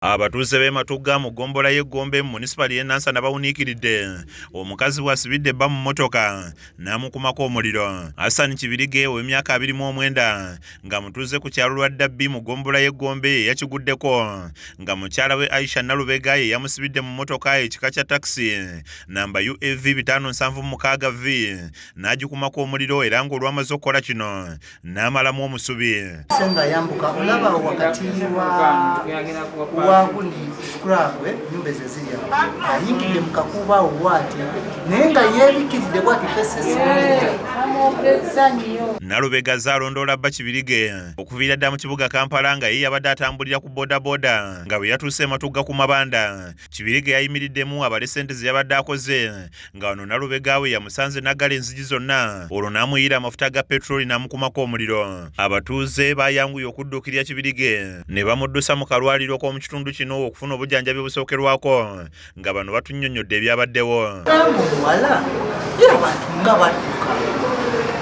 Abatuuze b'e Matugga mu ggombolola y'e Gombe mu munisipaali y'e Nansana bawuniikiridde omukazi bw'asibidde bba mu mmotoka n'amukumako omuliro. Hassan Kibirige ow'emyaka abiri mu omwenda nga mutuuze ku kyalo lwa Dabbi mu ggombolola y'e Gombe ye yakiguddeko nga mukyala we Aisha Nalubega ye yamusibidde mu mmotoka ekika kya takisi namba UAV bitaano nsanvu mukaaga V n'agikumako omuliro era ng'olwamaze okukola kino n'amalamu omusubi senga yambuka olaba wakati wakuli skrabwe nyumba ezo ezirya ayingidde mu kakuuba obwati naye nga yebikiridde bwati nalubega zalondoola bba kibirige okuviira ddala mu kibuga kampala nga ye yabadde atambulira ku bodaboda nga bwe yatuuse ematugga ku mabanda Kibirige yayimiriddemu abale ssente ze yabadde akoze nga wano Nalubega we yamusanze n'aggala enzigi zonna olwo n'amuyiira amafuta ga petroli n'amukumako omuliro. Abatuuze baayanguye okudduukirira Kibirige ne bamuddusa mu kalwaliro k'omu kitundu kino okufuna obujanjabi obusookerwako nga bano batunnyonnyodde ebyabaddewo. Omuwala era bantu nga badduka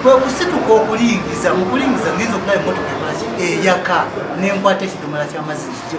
kwe kusituka okulingiza mu kulingiza ngenza okulaba emmotoka ekolaki eyaka n'enkwata ekidomola ky'amazzi kigye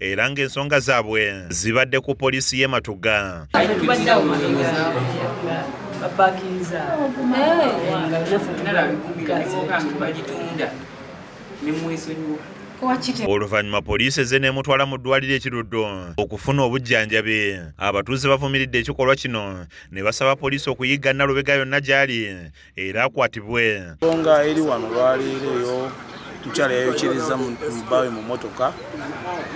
era ng'ensonga zaabwe zibadde ku poliisi y'e Matuga. oluvannyuma poliisi eze n'emutwala mu ddwaliro ekiruddo okufuna obujjanjabi abatuuze bavumiridde ekikolwa kino ne basaba poliisi okuyigga nalubega yonna gy'ali era akwatibwe. Ensonga eri wano lwaleero eyo mukyala yayokiriza mu bbaawe mu mmotoka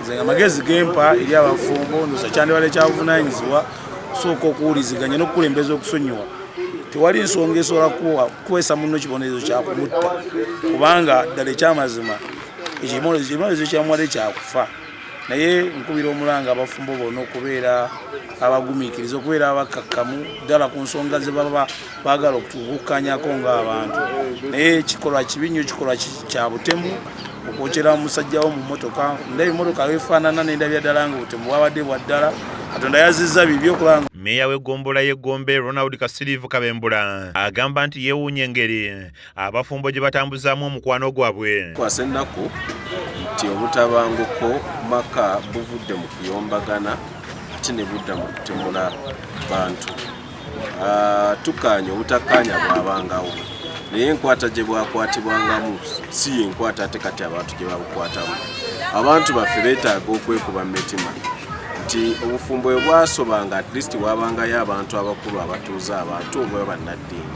nze nga magezi gempa eri abafumbo ndoza kyandibadde kyabuvunanyizibwa kusooka okuwuliziganya n'okukulembeza okusonyiwa tewali nsonga esobola kukwesa munno kibonerezo kyakumutta kubanga ddala ekyamazima ekibonerezo kyamuwadde kyakufa naye nkubira omulanga abafumbo bona okubeera abagumikiriza okubeera abakakkamu ddala ku nsonga ze baba baagala okukukkanyako ngaabantu naye kikolwa kibi nnyo kikolwa kya butemu okwokyera musajja wo mu motoka ndaba emotoka wefaanana nendabya ddala nga obutemu bwabadde bwa ddala katonda yazizza bibi okulanga meeya w'eggombolola y'eggombe ronald kasiriivu kabembula agamba nti yeewuunya engeri abafumbo gye batambuzaamu omukwano gwabwe. Kwasa ennaku nti obutabanguko maka buvudde mu kuyombagana ate ne budda mu kutemula bantu. Ah, tukkaanya obutakkaanya bwabangawo naye enkwata gye bwakwatibwangamu si yenkwata ate kati abantu gye babukwatamu abantu baffe beetaaga okwekuba mu mitima nti obufumbo bwe bwasobanga at least wabangayo abantu abakulu abatuuza abantu oba bannaddiini